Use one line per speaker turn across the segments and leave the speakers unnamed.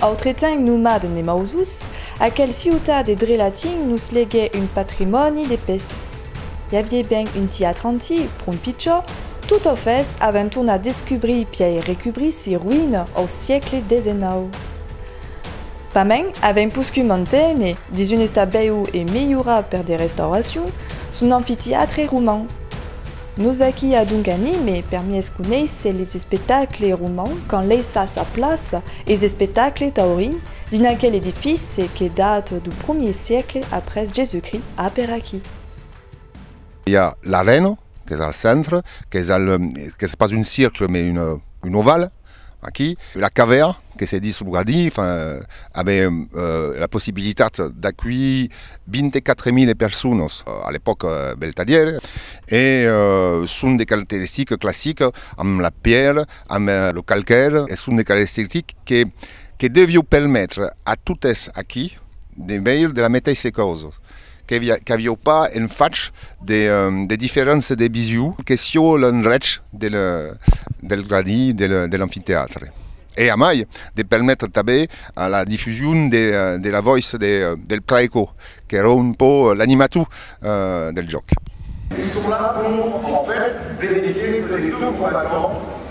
Autretemps nomat de Nemausus, aquel ciutat de Drelatin nos legue un patrimòni de pes. I avié ben un tiatre antic, pron pichó, totofes avèm tornat descubrir pièi recubrir si roïna au siecle xix. Pas mens, avèm poscut mantene, dins un estat bèu e melhorat per de restauracions, son amfitiatre roman. Nos d'aquí a donc anime, per mies conéisser les espectacles romans qu'an laissat sa plaça es espectacles taurins dins aquel edifice que dat du promier siecle après Jésus-Christ a per aquí.
I a l'arena qu'es al centre, qu'es pas un circle mais un oval. Aquí, la cavèra, que se ditz lo gradí, avè la possibilitat d'aculhir 24.000 personas a l'epòca Beltadière e son de caracteristica classica amb la pièra, amb lo calcaire e son de caracteristic que devió permetre a totes aquí de veire de la meteissa causa. Qu'avió pas en fach de diferéncia de vision que sió l'endrech del gradí de l'amfitèatre e a mai de permetre tanben a la difusion de la vòiç del Praeco qu'èra un pò l'animator del jòc. Pistola
pòu en fach venir dintre de dos combatents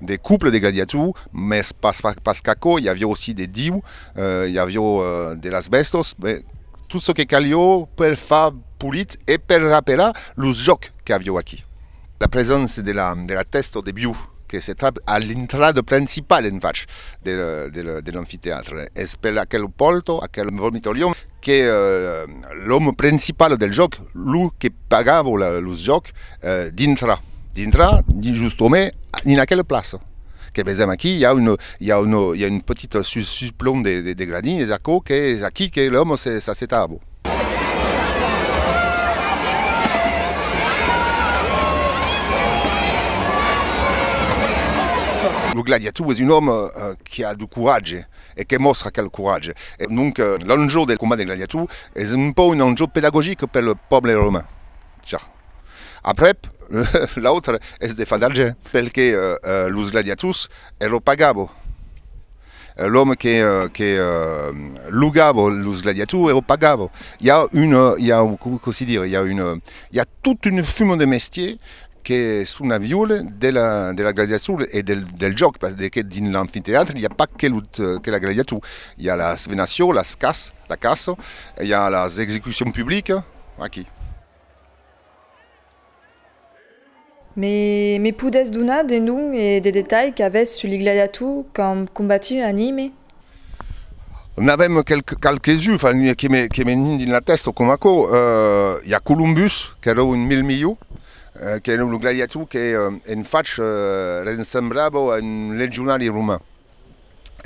De couple de gladiators, mès pas qu'aquò, i avió aussi de diu, i avió de las bèstos, tot çò que calió per far polit e per rapelar los jòcs qu'avió aquí. La preséncia de la tèsta o de biu que se trap a l'intrada principala en fach de l'amfiteatre es per aquel polto, aquel vomitorium, que l'òme principal del jòc, lo que pagava lo jòc dintra dintra justament dins aquela plaça que vesèm aquí i a un i a un i a un petit suplon de de gradins es aquò que es aquí que l'òme s'assetava lo gladiator es un òme qui a de coratge e que mòstra aquel coratge. E donc l'enjò del combat de gladiator es un pauc un enjò pedagogic pel pòble romain. Ja. Aprèp, l'autre es de far d'argent, pel que los gladiators e lo pagabo. L'òme que que logabo los gladiators e lo pagabo. I a un, i a, cossí dire, i a un, i a tot un fum de mestier que son a viure de la gladiacion e del jòc, pas de que dins l'amfitèatre i a pas que la gladiacion, i a las venacions, las cas, la caça, i a las execucions publicas, aqui.
Me me podètz donar de nom e de detalhs qu'avètz sus li gladiators qu'an combatius anime?
N'avèm qualques uns que me nien dins la tèsta, coma aquò, i a Columbus, qu'èra un mil milhau, qu'èra lo gladiator qu'en fach ressemblava a un legionari roman.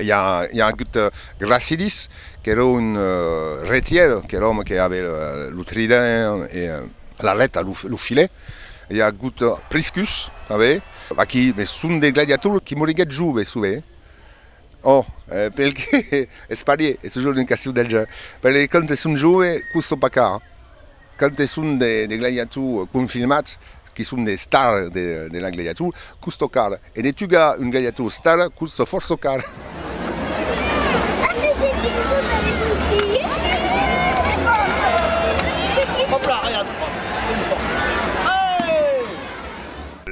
I a agut Gracilis, qu'èra un retièr, qu'èra òme que aviá lo trident e la lèta, lo filet. I a agut Priscus tanben. Aqui son de gladiators que moriguèt joves, tanben. Oh, pel que es parier, es toujours d'un castieu del gen. Pel que quand es un jove, custo pas car. Quand es un de gladiator confirmat, que son de star de la gladiator, custo car. E de tugar un gladiator star, custo fòrça car.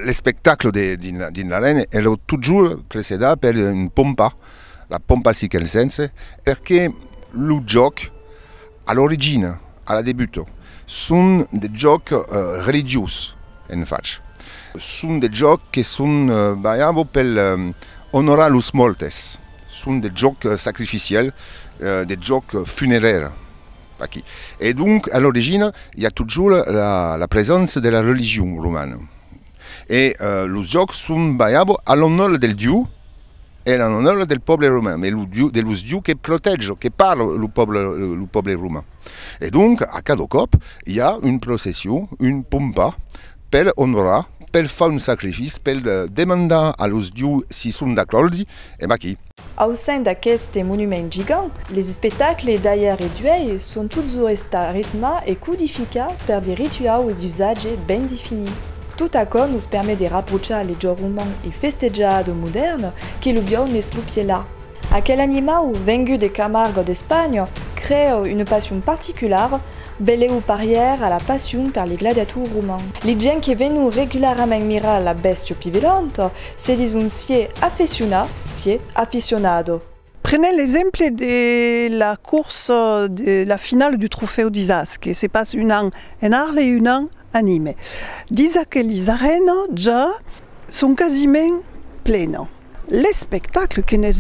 L'espectacle de dins l'arena es lo totjorn precedat per un pompa, la pompa circensense, perque lo jòc a l'origina, a la debuta, son de jòc religiós en fach. Son de jòc que son balhava pel onorar los mòrtes, son de jòc sacrificiel, de jòc funerèr. Aquí. E donc, a l'origina, i a totjorn la presença de la religion romana. E los jòcs son balhabo a l'onor del dieu e a l'onor del pòble romain, de los dieu que protèja, que parla lo pòble, lo pòble romain. E donc, a cada còp, i a una procession, una pompa per onorar, per far un sacrifici, per demandar a los dieu si son d'acòrdi, e vaquí. Au sein d'aqueste
monument gigant, les espectacles d'aièr e d'uèi son totjorn estats ritmats e codificats per de rituaus e d'usatges ben definits. Tot aquò nos permet de raprochar le jòc roman e festejador modèrn que lo biòu n'es lo pièlà. Aquel animau, vengut de Camargo d'Espanha, creèt una passion particulara, belèu parièr a la passion per les gladiators romans. Les gents que venon regularament mirar la bèstia pivelanta Se dis un sié aficiona, sié aficionado. Prenèm l'exemple
de la corsa de la finala du trofèu d'Isas que se passe un an en Arles e un an a Nîmes. Dins aquelis arènas ja son quasiment plenas. L'espectacle, que n'es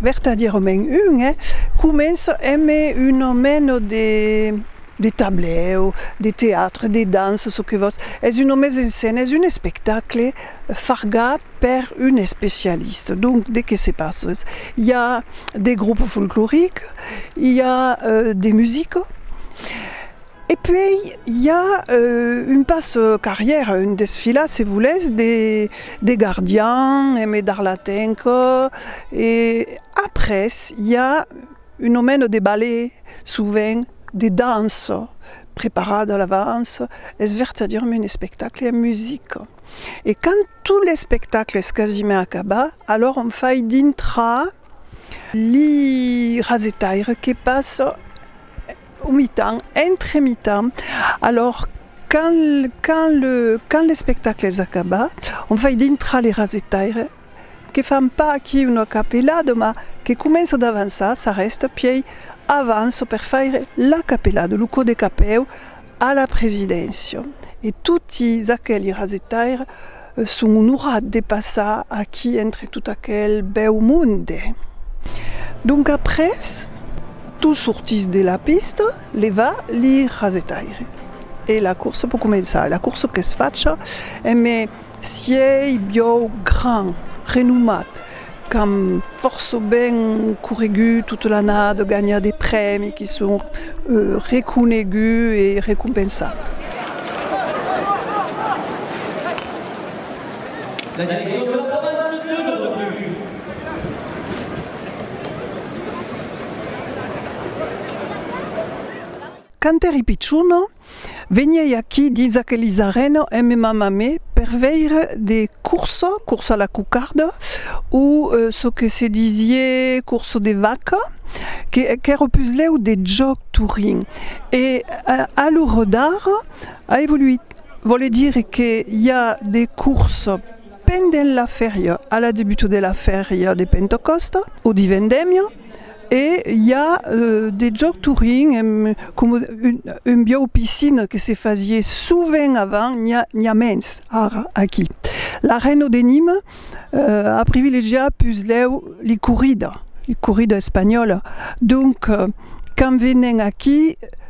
vertadièrament un, comença emb una mena de tablèu, de teatre, de dança, çò que vòs, es una mise en scène, es un espectacle fargat per un especialiste. Donc, de que se passe? Hi a des groupes folcloriques, hi a euh, des musiques, e puèi hi a euh, un pas euh, carrièra, un desfilat, se volètz, de, de gardian, e me dar la tenca, e après hi a un nomèn de ballet, sovent, de dança, preparada a l'avance, es vèrt a dire-me un espectacle amb musique. e quand tot l'espectacle es quasiment acabat, alors on fai dintrar li rasetaire que passa au mitan, entre mitan, alors quand quand le quand l'espectacle es acabat, on fai dintrar li rasetaire, Que fan pas aquí una capelada, mas que començo d'avançar sa rèsta pièi avanço per faire la capelada, lo cò de capèu, a la presidéncia. E toti aqueli rasetaires son onorats de passar aquí entre tot aquel bèu monde. Donc après, tu sortís de la pista, leva li rasetaires e la corsa pò començar. La corsa qu'es facha, e me. Sièi biòu grand, renomat, qu'an fòrça ben corregut tota l'annada, ganhat de prèmi, que son reconeguts e recompensats. La direccion de
la provinça de Dieu de Refuge.
Quand èri pichona, Veniei aquí dins aquelis arena en me mamar me per veire de corsa, corsa a la cocarda o çò que se disie corsa de vaca que qu'èra puslèu de jòc Turin e a lo rodar a evoluit, vòle dire que i a de corsa pendent la fèria a la debuta de la fèria de Pentecòsta o de Vendèmia, E i a de jòc Turing, coma un biau piscina que se fasie sovent avant, n'i a mens ara aquí. La Reno de Nima a privilegiat puslèu li corrida, li corrida espanhòla. Donc, quand venen aquí,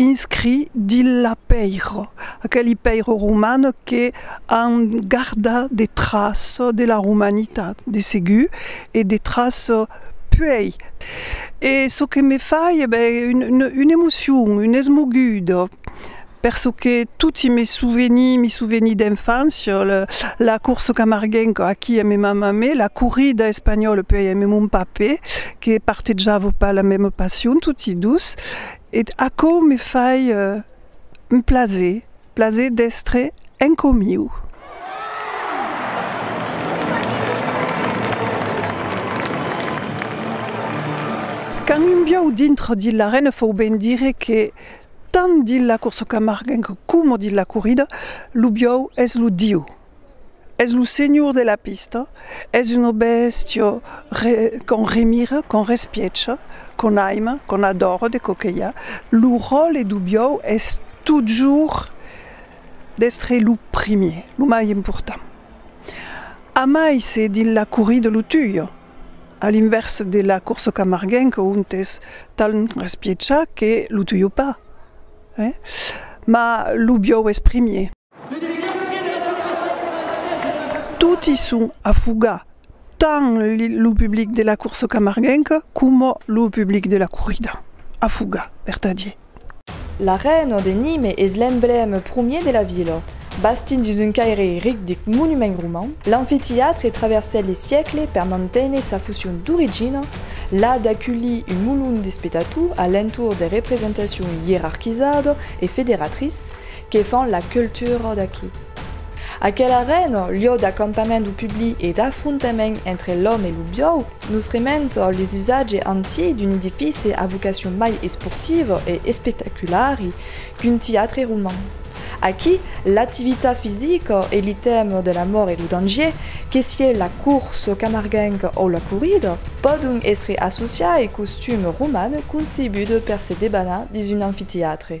inscrit dins la pèira, aqueli pèira romana que an gardat de traç de la romanitat, de segur, e de traç puèi. E çò que me fai, e ben, una emocion, una esmoguda, per çò que toti me souvenir, me souvenir d'enfància, la corsa camarguenca aquí a me mamà, me, la corrida espanhòla puèi a me mon papè, que partejava pas la mèma passion, toti dus, Et aquò me fai un plaser, plaser d'èstre en comiu. Quand un biau dintre dins l'arena fòu ben dire que tant dins la corsa camarguenca coma dins la corrida, lo biau es lo diu. Es lo senhor de la pista, es una bèstia qu'on remira, qu'on respiècha, qu'on aima, qu'on adòra de coquelhar. Lo ròtle dau biòu es totjorn d'èstre lo primièr, lo mai important. Amai se dins la corrida lo tuyo, a l'invèrs de la corsa camarguenca ont es tan respiècha que lo tuyo pas, mas lo biòu es primièr. Toti son a fugar, tant lo public de la corsa camarguenca coma lo public de la corrida, a fugar, vertadier. L'arena
de Nîmes es l'emblème promier de la vila. Bastit dins un caire ric de monuments romans, l'amfiteatre traversèt les siècles per manténer sa fusion d'origina, la d'aculhir un molon d'espectators a l'entorn de representacion ierarquizada e federatrice que fan la cultura d'aquí. Aquel arena, lieu d'acampament du publi e d'afrontament entre l'òme e lo biòu, nos rementa les usatges antics d'un edifici a vocacion mai esportiva e espectaculari qu'un tiatre roman. Aquí, l'activitat fisica e l'itèm de l'amor e lo dangier, que sié la corsa camarguenca o la corrida, pòdon èstre associai costum roman concebut per se debanar dins un amfitiatre.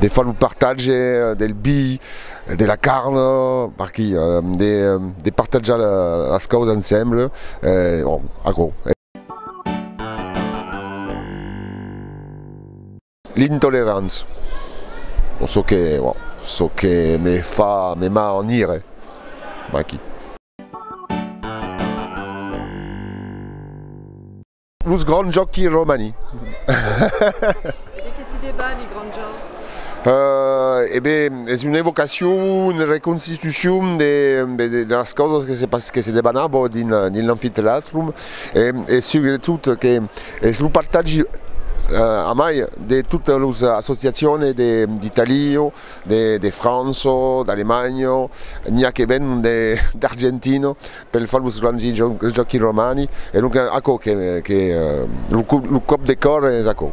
De far lo partatge del bi, de la carn, parquí, de partatjar las causas ensemble, aquò. L'intolerància, çò que, çò que me fa, me ma en ire, aquí. Los grands jòqui romani. E de
qué si debat li grands jòqui? E ben, es una evocacion,
una reconstitucion de las causas que se pas que se debanabon dins l'amfiteatrum e subretot que es lo partatgi a mai de totes los associacione de d'Italio, de Franço, d'Alemanho, n'i a que ven d'Argentino. Pel famós Gramsci Joaquin Romani e donc aquò que lo còp de còr es aquò.